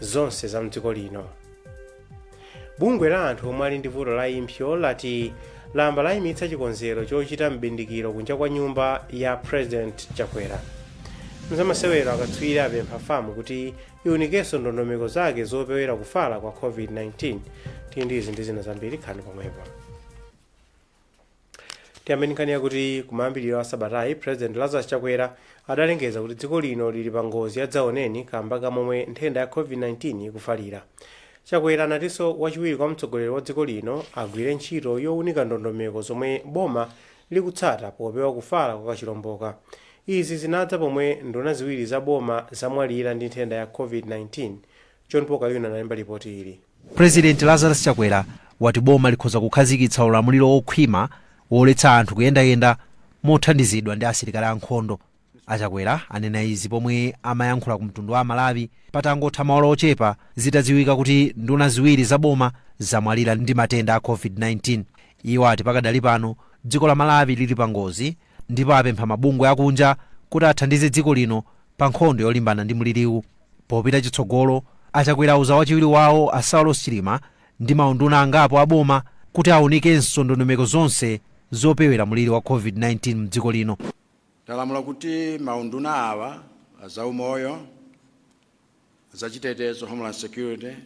zonse za mdziko lino bungwe la anthu omwe ali ndi vuto la impsyo lati lamba layimitsa chikonzero chochita m'bindikiro kunja kwa nyumba ya president chakwera mzamasewero akatswiri apempha famu kuti iunikenso ndondomeko zake zopewera kufala kwa covid-19 tili ndi izi ndi zina zambiri khalani pomwepo tiyambe ndi nkhani yakuti kumayambiriro a sabatayi president lazarus chakwera adalengeza kuti dziko lino lili pa ngozi ya dzaoneni kamba ka momwe nthenda ya covid-19 ikufalira chakwera anatinso wachiwiri kwa mtsogoleri wa dziko lino agwire ntchito yowunika ndondomeko zomwe boma likutsata popewa kufala kwa kachilomboka izi zinadza pomwe nduna ziwiri za boma zamwalira ndi nthenda ya covid-19 John Paul Kayuni analemba lipoti ili. Prezidenti Lazarus Chakwera wati boma likhoza kukhazikitsa ulamuliro wokhwima woletsa anthu kuyendayenda mothandizidwa ndi asilikali a nkhondo. A Chakwera anena izi pomwe amayankhula ku mtundu wa Amalawi patangotha maola ochepa zitadziwika kuti nduna ziwiri za boma zamwalira ndi matenda a Covid-19. Iwo ati pakadali pano dziko la Malawi lili pangozi ndipo apempha mabungwe akunja kuti athandize dziko lino pa nkhondo yolimbana ndi mliriwu. Popita chitsogolo, a Chakwera auza wachiwiri wawo a Saulos Chilima ndi maunduna angapo a boma kuti aunikenso ndondomeko zonse zopewera mliri wa Covid-19 mdziko lino. Ndalamula kuti maunduna awa, a zaumoyo, zachitetezo, homeland security,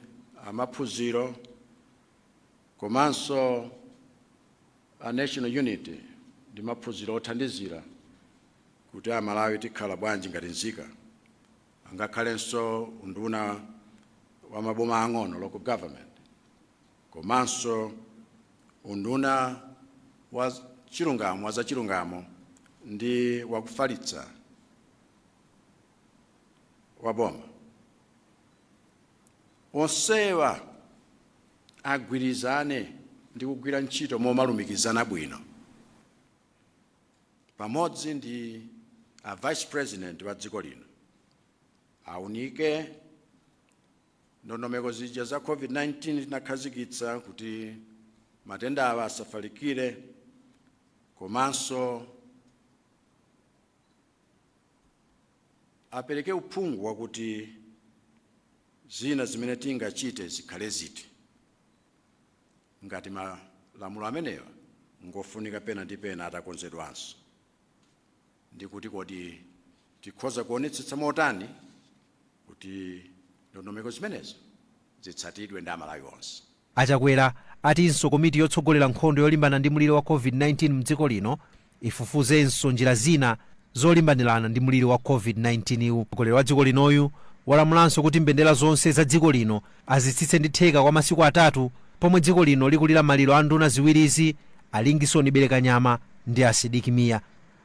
amaphunziro komanso. a National Unity ndi maphunziro othandizira kuti a Malawi tikhala bwanji ngati nzika, angakhalenso unduna wa maboma ang'ono, local government, komanso unduna wa chilungamo wa zachilungamo ndi wakufalitsa wa boma. Onsewa agwirizane ndi kugwira ntchito momalumikizana bwino pamodzi ndi a Vice President wa dziko lino aunike ndondomeko zija za COVID-19 tinakhazikitsa kuti matenda awa asafalikire komanso apereke uphungu wakuti zina zimene tingachite zikhale ziti. Ngati malamulo amenewa ngofunika pena ndi pena atakonzedwanso, ndi kuti kodi tikhoza kuonetsetsa motani kuti ndondomeko zimenezo zitsatidwe ndi Amalawi onse? A Chakwera atinso komiti yotsogolera nkhondo yolimbana ndi mliri wa Covid-19 m'dziko lino ifufuzenso njira zina zolimbanirana ndi mliri wa Covid-19 wu. Mtsogoleri wa dziko linoyu walamulanso kuti mbendera zonse za dziko lino azitsitse ndi theka kwa masiku atatu pomwe dziko lino likulira maliro a nduna ziwirizi a Lingson Belekanyama ndi a Sidik Mia.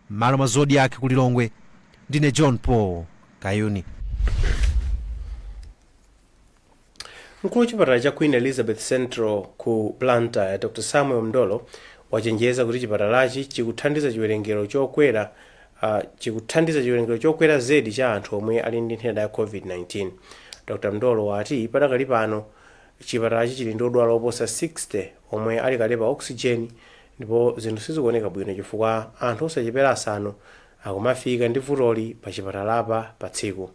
M'malo mwa Zodiak ku Lilongwe, ndine John Paul Kayuni. Mkulu wa chipatala cha Queen Elizabeth Central ku Blantyre, Dr Samuel Mndolo, wachenjeza kuti chipatalachi chikuthandiza chiwerengero chokwera uh, chikuthandiza chiwerengero chokwera zedi cha anthu omwe ali ndi nthenda ya COVID-19. Dr Mndolo wati padakali pano chipatalachi chili ndi odwala oposa 60 omwe ali kale pa oxygen ndipo zinthu sizikuoneka bwino chifukwa anthu osachepera asanu akumafika ndi vutoli pa chipatalapa pa tsiku.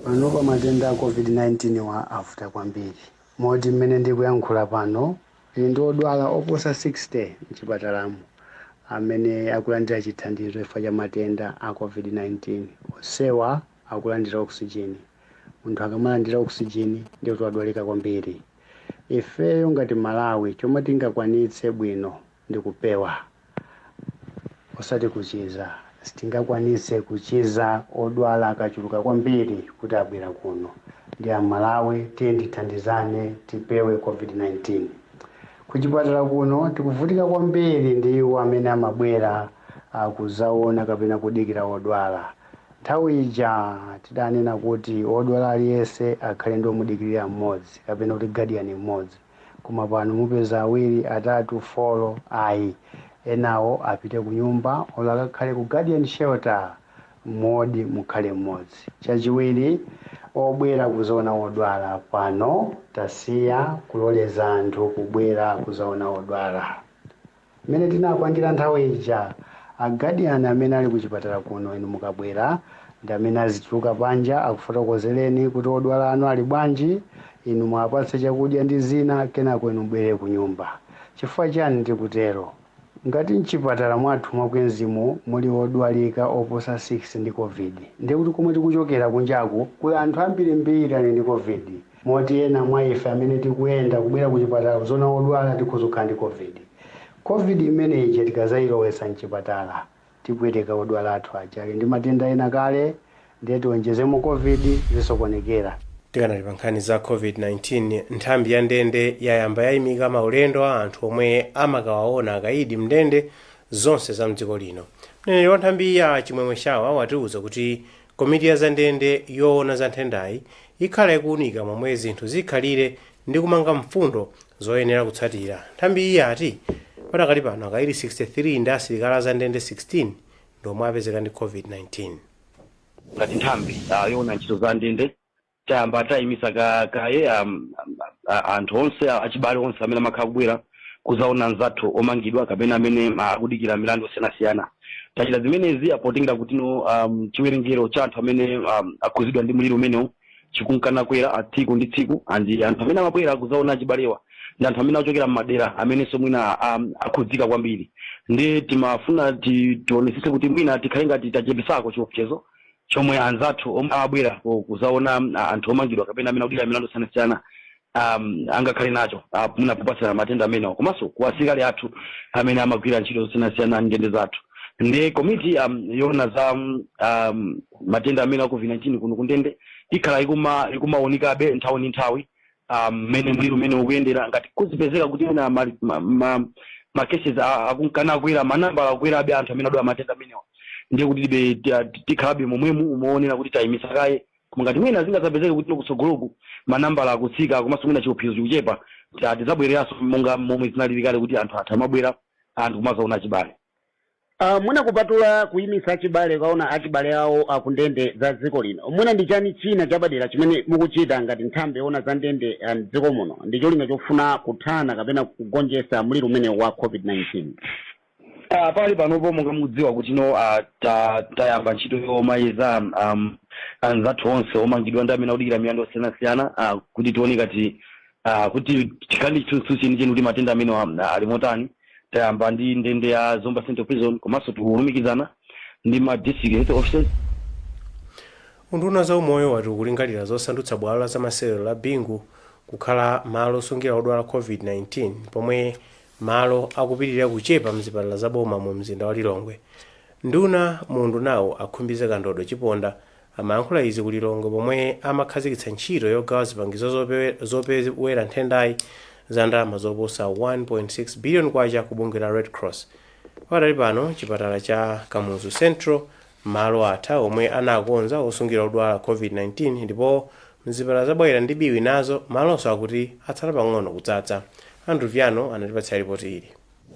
Panopa matenda a COVID-19 wa avuta kwambiri moti mmene ndikuyankhula pano tili ndi odwala oposa 60 m'chipatalamo amene akulandira chithandizo chifukwa cha matenda a COVID-19. Onsewa akulandira oxygen. Munthu akamalandira oxygen ndiye kuti wadwalika kwambiri. Ifeyo ngati Malawi chomwe tingakwanitse bwino ndi kupewa osati kuchiza. Sitingakwanise kuchiza odwala akachuluka kwambiri kuti abwera kuno. Ndiye Amalawi tiyeni tithandizane tipewe Covid-19. Kuchipatala kuno tikuvutika kwambiri ndi iwo amene amabwera kuzaona kapena kudikira odwala. Nthawi ija tidanena kuti odwala aliyense akhale ndi omudikirira mmodzi kapena kuti guardian mmodzi. koma pano mupeza awiri atatu folo ayi enawo apite kunyumba olo akakhale ku guardian shelter m'ward mukhale mmodzi chachiwiri obwera kuzaona odwala pano tasiya kuloleza anthu kubwera kuzaona odwala. Mmene tinapangira nthawi ija a guardian amene ali ku chipatala kuno inu mukabwera ndi amene azituluka panja akufotokozereni kuti odwala anu ali bwanji, inu muwapatse chakudya ndi zina kenako inu mubwerere kunyumba. Chifukwa chani tikutero? Ngati mchipatala mwathu mwa Queens-mo muli odwalika oposa 6 ndi Covid ndiye kuti komwe tikuchokera kunjaku kuli anthu ambirimbiri ali ndi Covid. Moti ena mwa ife amene tikuyenda kubwera kuchipatala kudzaona odwala tikhoza kukhala ndi Covid. Covid imeneyi tikazailowetsa m'chipatala, tipweteka odwala athu aja ali ndi matenda ena kale ndiye tionjezemo Covid, zisokonekera. Tikanali pa nkhani za Covid-19, nthambi ya ndende yayamba yaimika maulendo a anthu omwe amakawaona akaidi m'ndende zonse za m'dziko lino. Mneneri wa nthambiyi a Chimwemwe Shawa watiuza kuti Komiti ya zandende yoona za nthendayi ikhala ikuunika momwe zinthu zikhalire ndi kumanga mfundo zoyenera kutsatira. Nthambiyi yati padakali pano akaidi 63 ndi asilikali a zandende 16 ndi omwe apezeka ndi Covid-19. Ngati nthambi yoona ntchito za ndende, tayamba tayimisa ka, kaye um, a- anthu onse a- achibale onse amene amakhala kubwera kuzaona anzathu omangidwa kapena amene ah, akudikira milandu osiyanasiyana tachita zimenezi potengera kuti no um, chiwerengero cha anthu amene um, akhudzidwa ndi mliri umenewu chikunka nakwera a tsiku ndi tsiku and anthu amene amabwera kuzaona achibalewa ndi anthu amene achokera mmadera amenenso mwina um, akhudzika kwambiri ndiye timafuna ti- tionesese kuti mwina tikhale ngati tachepesako chiopsezo chomwe anzathu omwe amabwera ku- kuzaona ah, anthu omangidwa kapena amene akudikira milandu yosiyanasiyana um, angakhale nacho ah, mwina popatsirana matenda amenewa komanso kwa asilikali athu amene amagwira ntchito zosiyanasiyana ndende zathu ndiye komiti um, yoona za um, um, matenda amenewa a covid-19 kuno kundende ikhala ikuma ikumaunikabe nthawi ndi nthawi ah, mmene mliri umenewu ukuyendera ngati kuzipezeka kuti ena ma, ma, ma, ma cases a- akunka nakwera manambala akwerabe anthu amene adwala matenda amenewa ndiye kuti tibe ti- ah, ti- tikhalabe momwemu umaonera kuti tayimisa kaye koma ngati mwina zingazapezeke kuti no kutsogoloku manambala akutsika komanso mwina chiopsezo chikuchepa ti- ah, tizabwereranso monga momwe zinalili kale kuti anthu athu amabwera anthu kumazaona achibale Aaa mwina kupatula kuyimitsa achibale kukaona achibale awo ku ndende za dziko lino mwina ndi chani china chapadera chimene mukuchita ngati nthambi yowona za ndende mdziko muno ndicholinga chofuna kuthana kapena kugonjesa mliri umenewu wa covid 19? Aaa pakali panopo monga mukudziwa kuti no aa ta tayamba ntchito yomayeza am anzathu onse omangidwa ndi amene akudikira milandu yosiyana siyana aa kuti tione ngati aa kuti tikhale ndi chithunzi cheni cheni kuti matenda amenewa ali motani tayamba ndi ndende ya zomba central prison komanso tikulumikizana ndi ma district health officers unduna wa za umoyo wati ukulingalira zosandutsa bwalo la zamasewero la bingu kukhala malo osungira odwala covid-19 pomwe malo akupitirira kuchepa mzipatala za boma mu mzinda wa lilongwe nduna mu undunawu a khumbize kandodo chiponda Amayankhula izi ku Lilongwe pomwe amakhazikitsa ntchito yogawa zipangizo zopewe, zopewera nthendayi za ndalama zoposa 1.6 billion kwacha kwa bungwe la Red Cross. Pakadali pano chipatala cha Kamuzu Central malo atha omwe anakonza osungira odwala Covid-19 ndipo mzipatala za Bwaila ndi Biwi nazo malowo akuti atsala pang'ono kudzadza. Andrew Viano watipatsira lipoti ili.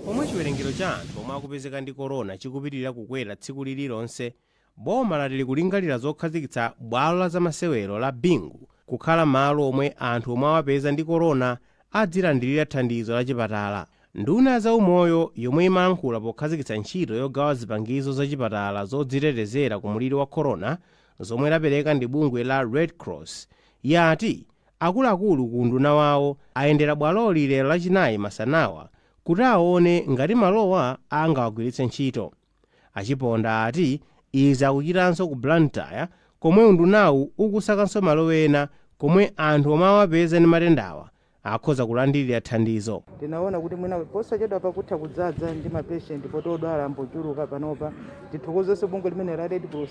Pomwe chiwerengero cha anthu omwe akupezeka ndi corona chikupitilira kukwera tsiku lililonse, Boma lati likulingalira zokhazikitsa bwalo la zamasewero la Bingu kukhala malo omwe anthu omwe awapeza ndi corona adzilandilira thandizo la chipatala. Nduna ya zaumoyo yomwe imayankhula pokhazikitsa ntchito yogawa zipangizo za chipatala zodzitetezera ku mliri wa corona zomwe lapereka ndi bungwe la Red Cross yati akuluakulu ku unduna wawo ayendera bwaloli lero lachinayi masanawa kuti awone ngati malowa angawagwiritse ntchito. A Chiponda ati izi akuchitanso ku Blantyre komwe undunawu ukusakanso malo ena komwe anthu omwe awapeza ndi matendawa akhoza kulandilira thandizo. Tinaona kuti mwina posachedwa pakutha kudzadza ndi ma patient poti odwala angochuluka panopa. Tithokozenso bungwe limeneli la Red Cross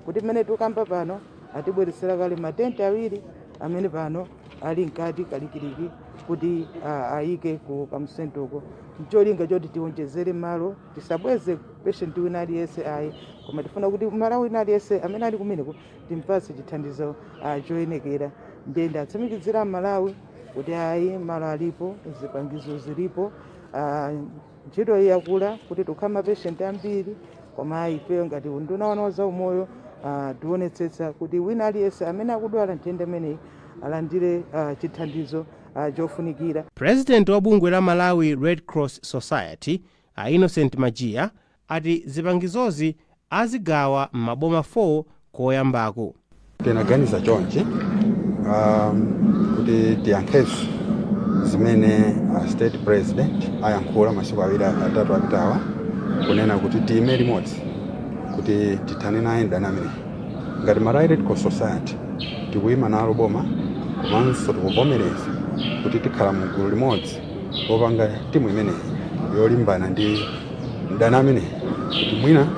kuti mmene tikukamba pano atibweretsera kale ma tent awiri amene pano ali mkati kalikiliki kuti ah, ayike ku Kamuzu Central ko n'cholinga choti tiwonjezere malo tisabweze patient wina aliyense ayi koma tifuna kuti Mmalawi wina aliyense amene ali kumeneko timpatse chithandizo ah, choyenekera ndiye ndatsimikizira aMalawi kuti ayi malo alipo zipangizo zilipo ah, ntchito iyi yakula kuti tikhala mapatient ambiri koma ayi ifeyo ngati unduna wa zaumoyo ah, tionetsetsa kuti wina aliyense amene akudwala nthenda imeneyi alandire ah, chithandizo ah, chofunikira President wa bungwe la Malawi Red Cross Society, A Innocent Majiya ati zipangizozi azigawa m'maboma 4 koyambako. Tinaganiza chonchi um, kuti tiyankhenso zimene a state president ayankhula masiku awiri atatu apitawa kunena kuti tiime limodzi kuti tithane naye mdani amene ngati Malawi Red Cross Society tikuima nalo boma komanso tikuvomereza kuti tikhala mu gulu limodzi opanga timu imeneyi yolimbana ndi mdani ameneyi kuti mwina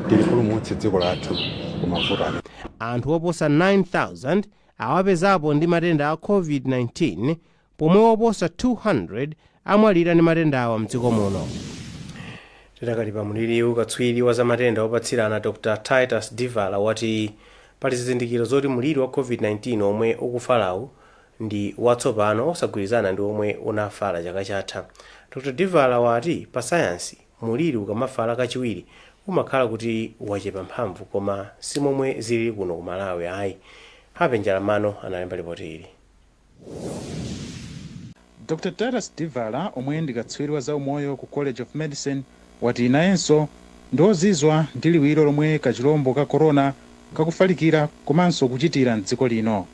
tilipulumutse dziko lathu ku mavuto amene Anthu oposa 9,000 awapezapo ndi matenda a COVID-19 pomwe oposa 200 amwalira ndi matendawa mdziko muno. Tidakali pa mliriwu, katswiri wa zamatenda opatsirana Dr Titus Divala wati pali zizindikiro zoti mliri wa COVID-19 omwe ukufalawu ndi watsopano osagwirizana ndi omwe unafala chaka chatha. Dr Divala wati pa sayansi, mliri ukamafala kachiwiri umakhala kuti wachepa mphamvu koma si momwe zilili kuno ku Malawi ayi. Happy Njalam'mano analemba lipoti ili. Dr Titus Divala omwe ndi katswiri wa zaumoyo ku College of Medicine wati nayenso ndi ozizwa ndi liwiro lomwe kachilombo ka corona kakufalikira komanso kuchitira m'dziko lino.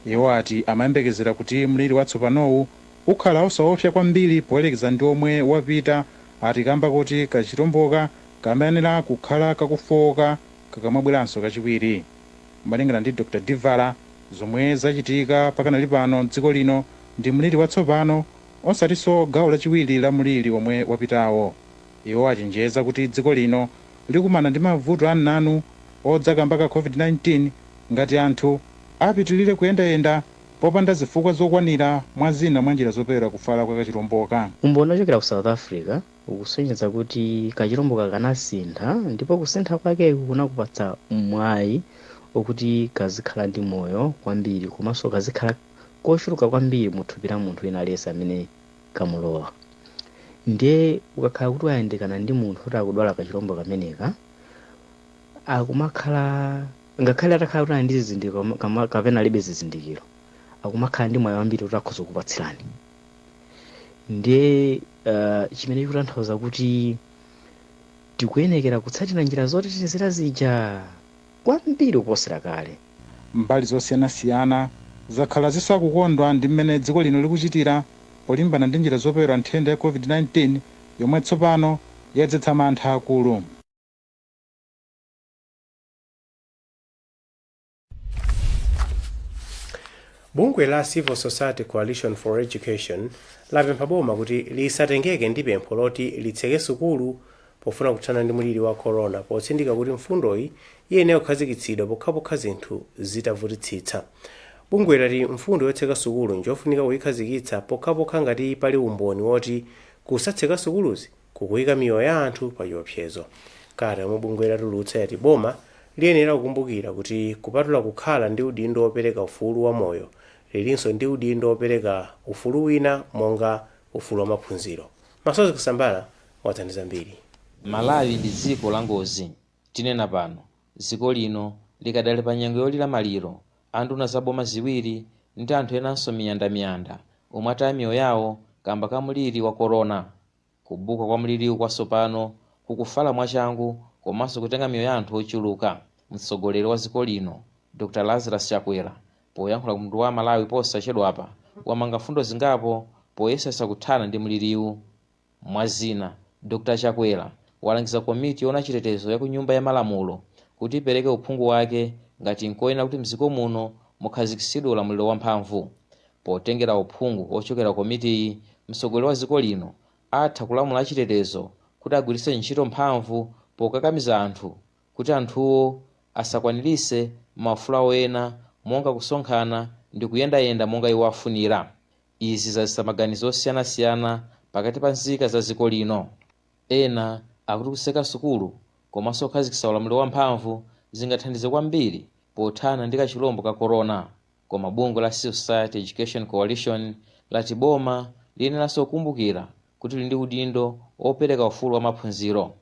Iwo ati amayembekezera kuti mliri watsopanowu ukhala osaopsa kwambiri poyerekeza ndi omwe wapita ati kamba kuti kachilomboka kamayenera kukhala kakufooka kakamabweranso kachiwiri. Malingana ndi Dr Divala, zomwe zachitika pakanali pano mdziko lino ndi mliri watsopano osatinso gawo lachiwiri la mliri omwe wapitawo. Iwo achenjeza kuti dziko lino. likumana ndi mavuto ananu odza kamba ka Covid-19 ngati anthu apitilire kuyendayenda popanda zifukwa zokwanira mwa zina mwa njira zopewera kufala kwa kachilomboka. Umboni ochokera ku South Africa ukusonyeza kuti kachilomboka kanasintha ndipo kusintha kwakeku kunakapatsa mwayi okuti kazikhala ndi moyo kwambiri komanso kazikhala kochuluka kwambiri mu thupi la munthu wina aliyense amene kamulowa. Ndiye ukakhala kuti wayandikana ndi munthu oti akudwala kachilombo kameneka, akumakhala ngakhale atakhala kuti ali ndi zizindikiro kama- kama- kapena alibe zizindikiro, akumakhala ndi mwayi wambiri kuti akhoza kupatsirani. Ndiye uh, chimene chikutanthauza kuti tikuyenekera kutsatira njira zotetezera zija kwambiri kuposera kale. Mbali zosiyanasiyana zakhala zisakukondwa ndi mmene dziko lino likuchitira polimbana ndi njira zopewera nthenda ya Covid-19 yomwe tsopano yadzetsa mantha akulu. Bungwe la Civil Society Coalition for Education lapempha boma kuti lisatengeke ndi pempho loti litseke sukulu pofuna kuthana ndi mliri wa corona potsindika kuti mfundoyi iyenera kukhazikitsidwa pokhapokha zinthu zitavutitsitsa. Bungweli lati mfundo yotseka sukulu njofunika kuyikhazikitsa pokhapokha ngati pali umboni woti kusatseka sukuluzi kukuyika miyoyo ya anthu pa chiopsezo. Kalata yomwe bungweli latulutsa yati boma liyenera kukumbukira kuti kupatula kukhala ndi udindo wopereka ufulu wa moyo, lilinso ndi udindo wopereka ufulu wina monga ufulu wa maphunziro. Masozi Kusambala wadza ndi zambiri. Malawi ndi dziko la ngozi. Tinena pano, dziko lino likadali pa nyengo yolira maliro, anduna za boma ziwiri ndi anthu enanso miyandamiyanda omwe ataya miyoyo yawo kamba ka mliri wa Corona. Kubuka kwa mliriwu kwatsopano kukufala mwachangu komanso kutenga miyoyo ya anthu ochuluka, mtsogoleri wa dziko lino, Dr Lazarus Chakwera, Poyankhula ku mtundu wa Amalawi posachedwapa, wamanga mfundo zingapo poyesesa kuthana ndi mliriwu. Mwazina, Dr Chakwera walangiza komiti yowona chitetezo ya ku nyumba ya malamulo kuti ipereke uphungu wake ngati nkoyenera kuti mdziko muno mukhazikitsidwe ulamuliro wa mphamvu. Potengera uphungu wochokera komitiyi, mtsogoleri wa dziko lino atha kulamula achitetezo kuti agwiritse ntchito mphamvu pokakamiza anthu Kuti anthuwo asakwaniritse maufulu awo ena monga kusonkhana ndi kuyendayenda monga iwo afunira, izi zadzetsa maganizo osiyanasiyana pakati pa nzika za dziko lino. Ena akuti kutseka sukulu komanso kukhazikitsa ulamuliro wamphamvu zingathandize kwambiri pothana ndi kachilombo ka corona. Koma bungwe la Civil Society Education Coalition lati boma liyeneranso kukumbukira kuti lili ndi udindo wopereka ufulu wa maphunziro.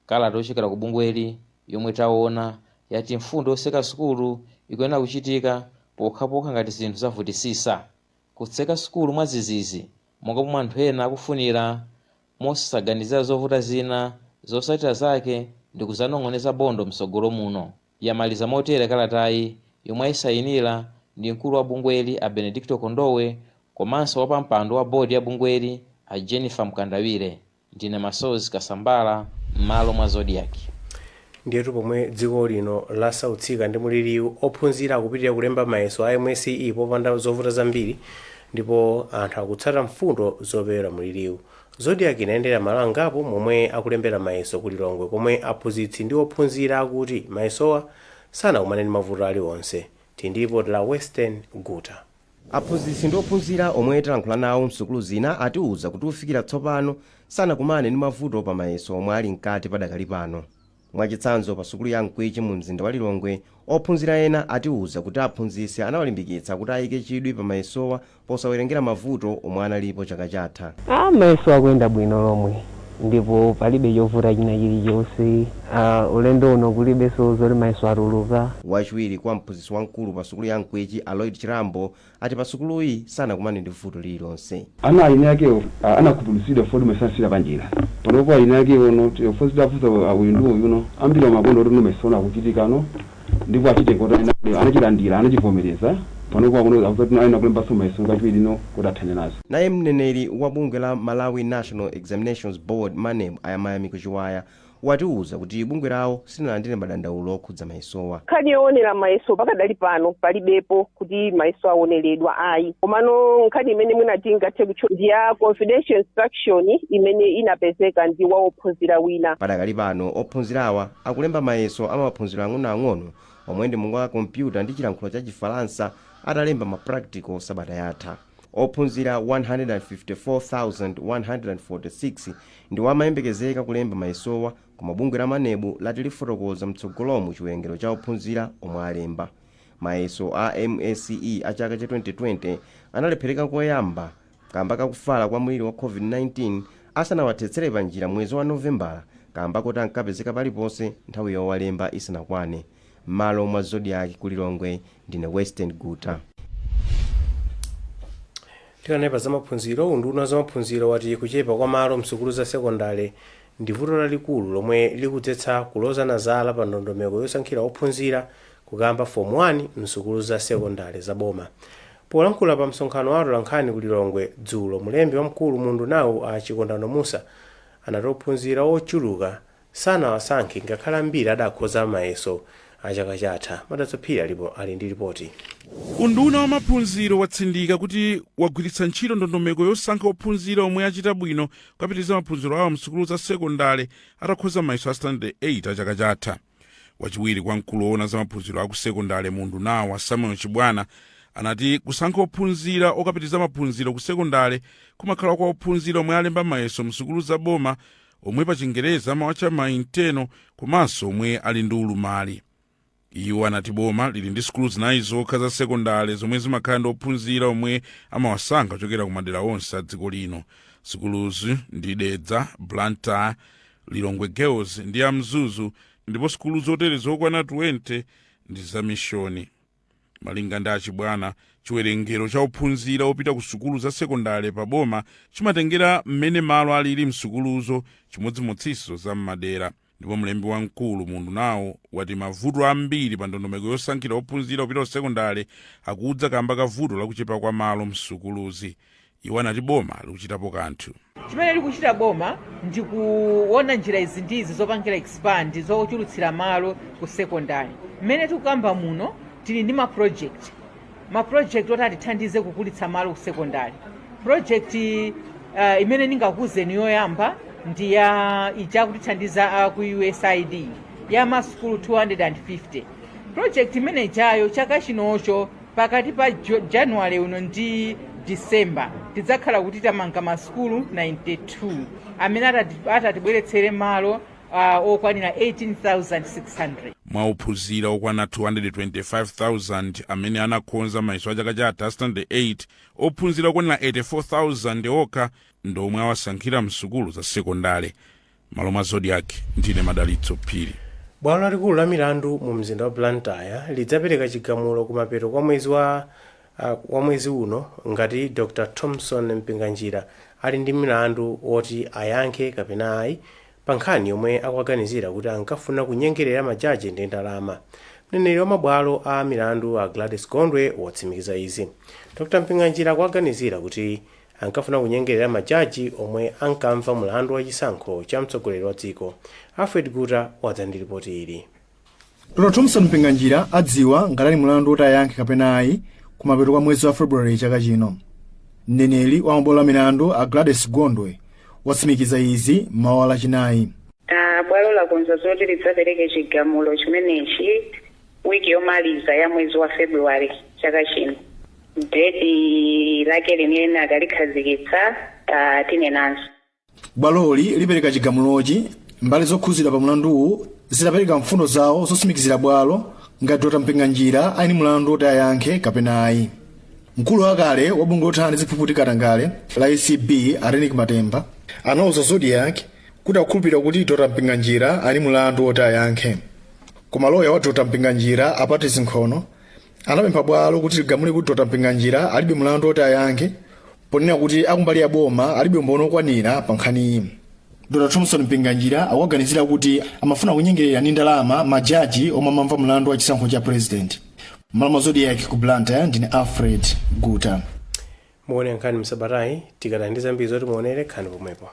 Kalata yochokera ku bungweli yomwe taona yati mfundo yoseka sukulu ikuyenera kuchitika pokhapokha ngati zinthu zavutisisa. Kutseka sukulu mwadzizizi monga pomwe anthu ena akufunira mosaganizira zovuta zina, zosatira zake ndikuzanong'oneza bondo mtsogolo muno, yamaliza motere kalatayi yomwe ayisayinira ndi mkulu wa bungweli a Benedicto Kondowe komanso wapampando wa board ya bungweli a Jennifer Mkandawire. Ndine Masozi Kasambara m'malo mwa Zodiak. Ndiyetu pomwe dziko lino lasautsika ndi muliliu, ophunzira akupitilira kulemba mayeso a MSCE popanda zovuta zambiri ndipo anthu akutsata mfundo zopewera muliliu. Zodiak inayendera malo angapo momwe akulembera mayeso ku Lilongwe komwe aphunzitsi ndi ophunzira akuti mayesowa sanakumane ndi mavuto aliwonse. Tili ndi lipoti la Western Guta. Aphunzitsi ndi ophunzira omwe talankhula nawo msukulu zina atiuza kuti kufikira tsopano sanakumane ndi mavuto pa mayeso omwe ali mkati padakali pano. Mwachitsanzo pa sukulu ya Mkwichi mu mzinda wa Lilongwe, ophunzira ena atiuza kuti aphunzitsi anawalimbikitsa kuti ayike chidwi pa mayesowa posawerengera mavuto omwe analipo chaka chatha. Mayeso akuyenda bwino lomwe Ndipo palibe chovuta china chilichonse. Ulendo uno kulibeso zoti mayeso atuluka. Wachiwiri kwa mphunzitsi wamkulu pa sukulu ya Mkwichi a Lloyd Chirambo ati pa sukuluyi sanakumane ndi vuto lililonse. Ana ayini akewo anakhumudwitsidwa fod masansiira panjira panopo ayini akewo not fod titafunsa uyu ndi uyu no ambiri amakonda kuti no mayeso ano akuchitika no. ndipo achite koto anena kuti anachilandira, anachivomereza, panopa akuno akuti kuti ayenera kulembanso mayeso kachiwiri no kuti athane nazo. Naye mneneri wa bungwe la Malawi National Examinations Board, maneb, a Mayamiko Chiwaya watiuza kuti bungwe lawo silinalandire madandaulo okhudza mayesowa. Nkhani yoonera mayeso pakadali pano palibepo kuti mayeso aoneredwa ayi komano nkhani imene mwina tingathe kutchula ndi ya confidential instruction imene inapezeka ndi wa ophunzira wina. Padakali pano ophunzirawa akulemba mayeso a maphunziro ang'onoang'ono omwe ndi monga kompyuta ndi chilankhulo cha Chifalansa atalemba ma practical sabata yatha. Ophunzira 154,146 ndiwo amayembekezeka kulemba mayesowa koma bungwe la Maneb lati lifotokoza mtsogolomu chiwerengero cha ophunzira omwe alemba. Mayeso a msce a chaka cha 2020 analephereka koyamba Kamba ka kufala kwa mliri wa Covid-19 asanawathetsere panjira mwezi wa Novembala kamba koti ankapezeka paliponse nthawi yowalemba isanakwane. Mmalo mwa Zodiak ku Lilongwe ndine Western Guta. Tikanena za maphunziro, unduna wa zamaphunziro wati kuchepa kwa malo msukulu za sekondale ndi vuto lalikulu lomwe likudzetsa kulozana zala pa ndondomeko yosankhira ophunzira kukayamba Form 1 m'sukulu za sekondale za boma. Polankhula pa msonkhano wa atolankhani ku Lilongwe dzulo, mlembi wamkulu mu undunawu a Chikondano Mussa anati ophunzira ochuluka sanawasankhe ngakhale ambiri adakhoza mayeso a chaka chatha. Madalitso Phiri ali po- ali ndi lipoti. Unduna wa maphunziro watsindika kuti wagwiritsa ntchito ndondomeko yosankha ophunzira omwe achita bwino kukapitiriza maphunziro awo m'sukulu za sekondale atakhoza mayeso a Standard 8 a chaka chatha. wachiwiri kwa mkulu woona za maphunziro aku sekondale mu undunawo a samuel chibwana anati kusankha ophunzira okapitiriza maphunziro ku sekondale kumakhala kwa ophunzira omwe alemba mayeso msukulu za boma omwe pa chingereza amawatcha mainteno komanso omwe ali ndi ulumali iwo anati boma lili ndi sukulu zinayi zokha za sekondale zomwe zimakhala ndi ophunzira omwe amawasankha kuchokera ku madera onse a dziko lino sukuluzi ndi dedza blantyre Lilongwe Girls ndi ya Mzuzu ndipo sukulu zotere zokwana 20 ndi za mishoni. Malinga ndi a Chibwana, chiwerengero cha ophunzira opita ku sukulu za sekondale pa boma chimatengera mmene malo alili m'sukuluzo chimodzimodzinso za m'madera. Ndipo mlembi wamkulu mu undunawo wati mavuto ambiri pa ndondomeko yosankhira ophunzira opita ku sekondale akudza kamba ka vuto la kuchepa kwa malo m'sukuluzi. Iwo anati boma likuchitapo kanthu. Chimene likuchita boma ndi kuona njira izi ndi izi zopangira expand zochulutsira malo ku secondary. Mmene tikukamba muno tili ndi ma project ma project oti atithandize kukulitsa malo ku secondary. Project uh, imene ndingakuuzeni yoyamba ndi ya ija akutithandiza a ku USAID ya masukulu 250 project imene ijayo chaka chinocho pakati pa Jo- january uno ndi december tidzakhala kuti tamanga masukulu 92 amene atati- atatibweretsere malo ah, okwanira 18600 mwa ophunzira okwana 225,000 amene anakhoza mayeso a chaka chatha a standard 8 ophunzira okwanira 84,000 okha ndi omwe awasankhira msukulu za sekondale M'malo mwa Zodiak, ndine Madalitso Phiri. Bwalo lalikulu la milandu mu mzinda wa Blantyre lidzapereka chigamulo kumapeto kwa mwezi wa wa mwezi uno ngati Dr Thomson Mpinganjira ali ndi mlandu woti ayankhe kapena ayi pa nkhani yomwe akuwaganizira kuti ankafuna kunyengerera majaji ndi ndalama. Mneneri wa mabwalo a milandu a Gladys Gondwe watsimikiza izi. Dr Mpinganjira akuwaganizira kuti ankafuna kunyengerera majaji omwe ankamva mlandu wa chisankho cha mtsogoleri wa dziko. Alfred Guta wadza ndi lipoti ili. Dr. Thomson Mpinganjira adziwa ngati ali ndi mlandu woti ayankhe kapena ayi kumapeto kwa mwezi wa February chaka chino. Mneneri wa mabwalo a milandu a Gladys Gondwe watsimikiza izi m'mawa lachinayi. Ah, bwalo lakonza zoti lidzapereke chigamulo chimenechi wiki yomaliza ya mwezi wa February chaka chino. Deti lake limene akalikhazikitsa tinenanso. bwaloli lipereka chigamulochi mbali zokhuzidwa pa mlanduwu zitapereka mfundo zawo zotsimikizira bwalo ngati dr mpinganjira ali ndi mlandu woti ayankhe kapena ayi mkulu wakale wa bungwe lothana ndi ziphuphu ndi katangale la acb a reyneck matemba anauza zodiak kuti akukhulupirira kuti dr mpinganjira ali ndi mlandu woti ayankhe koma loya wa dr mpinganjira a patrice nkhono anapempha bwalo kuti ligamule kuti dr mpinganjira alibe mlandu woti ayankhe ponena kuti akumbali ya boma alibe umboni okwanira pa nkhaniyi dr thomson mpinganjira akuwaganizira kuti amafuna kunyengerera ndi ndalama majaji omwe amamva mlandu wa chisankho cha president m'malo mwa zodiak ku blantyre ndine alfred guta Mukuonera nkhani msabatayi tikadali ndi zambiri zoti muonere khalani pomwepo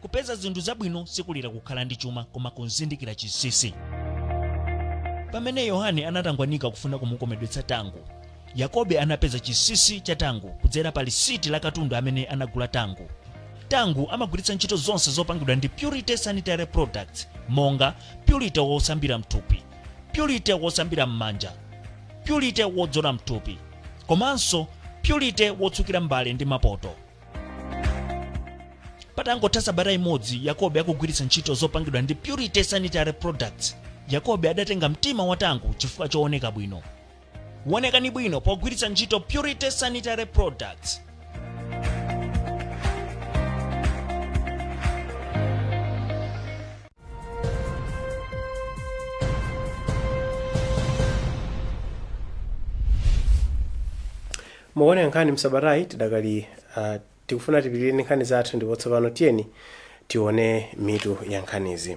kupeza zinthu zabwino sikulira kukhala ndi chuma koma kuzindikira chinsinsi pamene yohane anatangwanika kufuna kumukomedwetsa tangu yakobe anapeza chinsinsi cha tangu kudzera pa lisiti la katundu amene anagula tangu tangu amagwiritsa ntchito zonse zopangidwa ndi purity sanitary products monga purity wosambira mthupi purity wosambira m'manja purity wodzola mthupi komanso purity wotsukira mbale ndi mapoto patangotha sabata imodzi yakobe akugwiritsa ntchito zopangidwa ndi purity sanitary products yakobe adatenga mtima wa tangu chifukwa chooneka bwino wonekani bwino pogwiritsa ntchito purity sanitary products mukuonera nkhani msabatayi tidakali uh, tikufuna tipitirire ndi nkhani zathu ndipo tsopano tiyeni tione mitu ya nkhanizi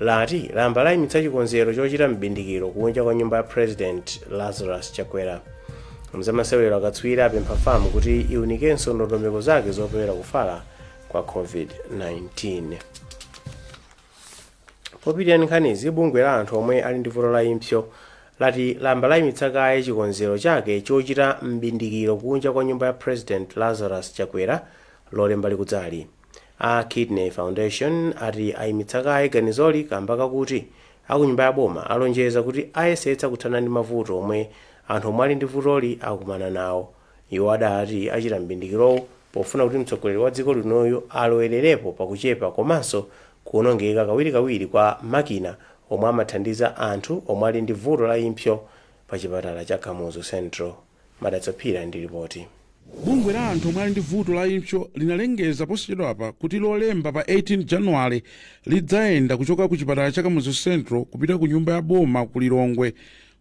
lati lamba layimitsa chikonzero chochita m'bindikiro kunja kwa nyumba ya president lazarus chakwera mzamasewero akatswiri apempha fam kuti iunikenso ndondomeko zake zopewera kufala kwa covid-19 popitirira ndi nkhanizi bungwe la anthu omwe ali ndi vuto la impso lati lamba layimitsa kaye chikonzero chake chochita m'bindikiro kunja kwa nyumba ya president lazarus chakwera lolemba likudzali A Kidney Foundation ati ayimitsa kaye ganizoli kamba kakuti akunyumba ya boma alonjeza kuti ayesetsa kuthana ndi mavuto omwe anthu omwe ali ndi vutoli akumana nawo. Iwo adati achita m'bindikirowu pofuna kuti mtsogoleri wa dziko linoyu alowelerepo pa kuchepa komanso kuonongeka kawirikawiri kwa makina omwe amathandiza anthu omwe ali ndi vuto la impsyo pa chipatala cha Kamuzu Central. Madalitso Phiri ndi lipoti. Bungwe la anthu omwe ali ndi vuto la impsyo linalengeza posachedwapa kuti Lolemba pa 18 Januwale lidzayenda kuchoka ku chipatala cha Kamuzu Central kupita ku nyumba ya boma ku Lilongwe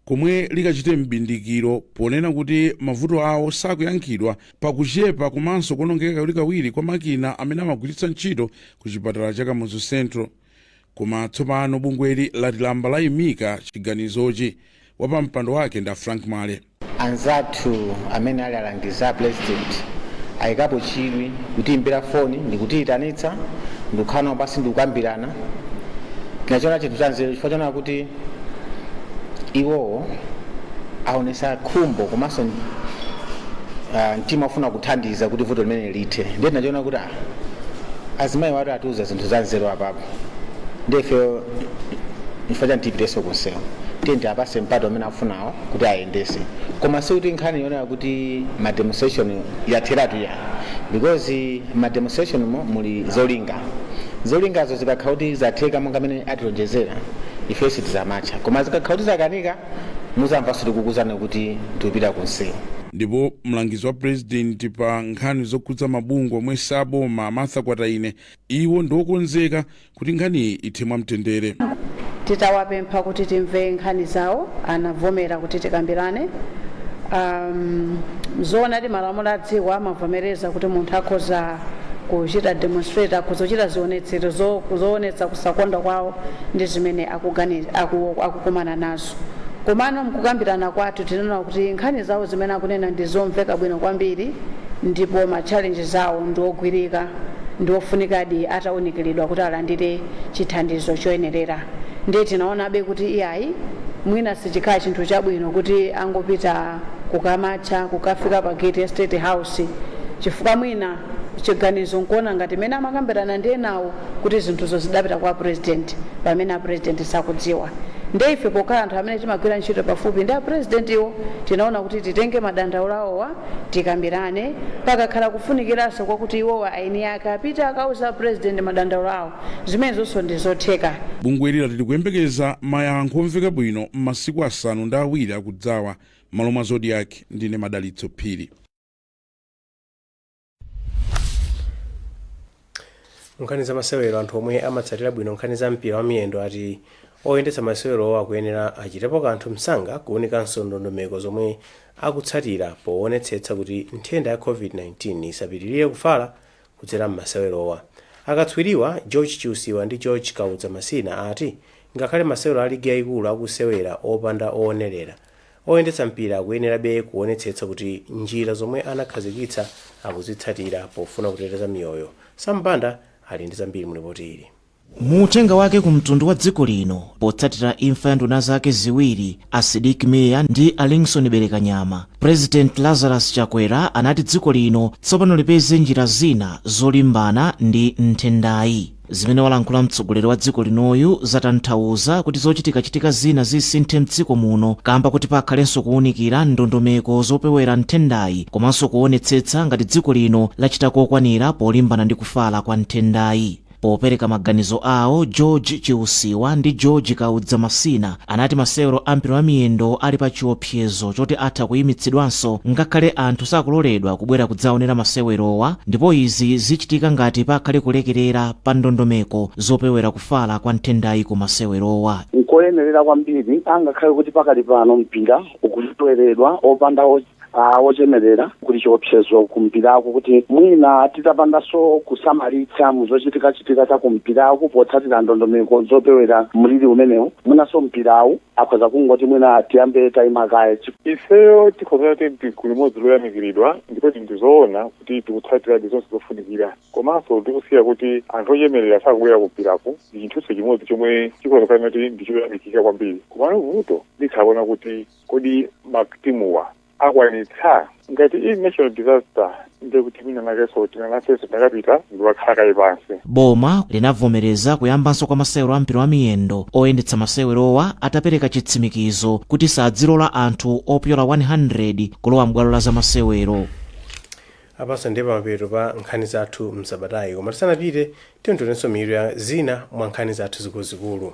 komwe likachite m'bindikiro ponena kuti mavuto awo sakuyankhidwa pa kuchepa komanso kuonongeka kawirikawiri kwa makina amene amagwiritsa ntchito ku chipatala cha Kamuzu Central. Koma tsopano bungweli lati layamba layimika chiganizochi. Wapampando wake ndi a Frank Mwale. Anzathu amene ali alangizi a Pulezidenti ayikapo chidwi, kutiyimbira foni ndi kutiyitanitsa ndi kukhala nawo pansi ndi kukambirana. Tinachiona chinthu cha nzeru chifukwa choona kuti iwowo aonetsa khumbo komanso mtima wofuna kuthandiza kuti vuto limeneli lithe. Ndiye tinachiona kuti. azimayiwatu atiuza zinthu za nzeru apapo ndi ifeyo chifukwa chani tipiteso kunsewu tiyeni tiapase mpata umene afunawo kuti ayendese koma sikuti nkhani yonena kuti ma demonstration yatheratu ayi because ma demonstrationmo muli zolinga zolingazo zikakhala kuti zatheka monga mmene atilonjezera ife sitizamatcha koma zikakhala kuti zakanika muzamvanso tikukuzani kuti tikupita kunsewu. Ndipo mlangizi wa Pulezidenti pa nkhani zokhudza mabungwe omwe si aboma a Martha Kwataine iwo ndi okonzeka kuti nkhaniyi ithe mwa mtendere. Titawapempha kuti timve nkhani zawo anavomera kuti tikambirane. Am, zoonadi malamulo a dziko amavomereza kuti munthu akhoza kuchita demonstrate, akhoza kuchita zionetsero zo- zoonetsa kusakondwa kwawo ndi zimene akukumana nazo. Komano m'kukambirana kwathu tinaona kuti nkhani zawo zimene akunena ndi zomveka bwino kwambiri ndipo ma challenges awo ndi ogwirika ndi ofunikadi atawunikiridwa kuti alandire chithandizo choyenerera. Ndiye tinaonabe kuti iyayi mwina sichikhala chinthu chabwino kuti angopita kukamatcha, kukafika pa gate ya State House chifukwa mwina. chiganizo nkuona ngati mmene amakambirana ndi enawo kuti zinthuzo zidapita kwa apresident pamene apresident sakudziwa nde ife pokhala anthu amene timagwira ntchito pafupi ndi apresidentiwo tinaona kuti titenge madandaulo awowa tikambirane pakakhala kufunikiranso kwakuti iwowa aeni ake apite akauze apresident madandaulo awo zimenezonso ndi zotheka. Bungweli lati likuyembekeza mayankho omveka bwino m'masiku asanu ndi awiri akudzawa. M'malo mwa Zodiak, ndine Madalitso Phiri. nkhani za masewero anthu omwe amatsatira bwino nkhani za mpira wa miyendo ati oyendetsa masewerowa akuyenera achitepo kanthu msanga kuunikanso ndondomeko zomwe akutsatira poonetsetsa kuti nthenda ya covid-19 isapitirire kufala kudzera m'masewerowa akatswiriwa george chiusiwa ndi george kaudza masina ati ngakhale masewero a ligi yayikulu akusewera opanda oonerera Oyendetsa mpira akuyenerabe kuonetsetsa kuti njira zomwe anakhazikitsa akuzitsatira pofuna kuteteza miyoyo. Sam Banda ali ndi zambiri mu lipoti ili. Mu uthenga wake ku mtundu wa dziko lino potsatira imfa ya nduna zake ziwiri, a Sidik Mia ndi a Lingson Belekanyama, Purezidenti Lazarus Chakwera anati dziko lino tsopano lipeze njira zina zolimbana ndi nthendayi. Zimene walankhula mtsogoleri wa dziko linoyu zatanthauza kuti zochitikachitika zina zisinthe mdziko muno kaamba koti pakhalenso kuunikira ndondomeko zopewera nthendayi komanso kuonetsetsa ngati dziko lino lachita kokwanira polimbana ndi kufala kwa nthendayi. Popereka maganizo awo, George Chiusiwa ndi George Kaudza Masina anati masewero a mpira wa miyendo ali pa chiop. sezo choti atha kuyimitsidwanso ngakhale anthu sakuloledwa kubwera kudzaonera masewerowa ndipo izi zichitika ngati pakhale kulekelera pa ndondomeko zopewera kufala kwa nthendayi ku masewerowa. Nkoyenerera kwambiri angakhale kuti pakali pano mpira ukuseweredwa opanda wochemerera kuli chiopsezo ku mpiraku kuti mwina titapandanso kusamalitsa mu zochitikachitika za ku mpiraku potsatira ndondomeko zopewera mliri umenewu mwinanso mpirawu akhoza kungoti mwina tiyambe tayima kaye. Ifeyo tikhoza kunena kuti ndi gulu limodzi loyamikiridwa ndipo ndi zoona kuti tikutsatiradi zonse zofunikira komanso tikusiya kuti anthu ochemerera sakubwera kumpirako ndi chinthunso chimodzi chomwe chikhoza kukhala kuti ndi choyamikika kwambiri komano vuto nditha kuona kuti kodi matimuwa akwanitsa ngati ili national disaster ndiye kuti mwina nakenso tina nafenso takapita ndiwakhala kaye pansi Boma linavomereza kuyambanso kwa masewero a mpira wa miyendo oyendetsa masewerowa atapereka chitsimikizo kuti sadzilola anthu opyola 100 kulowa m'bwalo la zamasewero. apatu ndiye pamapeto pa nkhani zathu msabatayi koma tisanapite tionenso mitu ya zina mwa nkhani zathu zikuluzikulu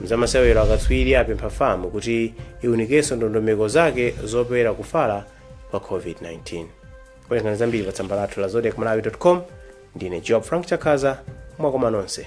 Mzamasewero akatswiri apempha FAM kuti iwunikenso ndondomeko zake zopewera kufala kwa COVID-19. Werengani zambiri pa tsamba lathu la zodiakmalawi.com. Ndine Joab Frank Chakhaza, mwakomanonse.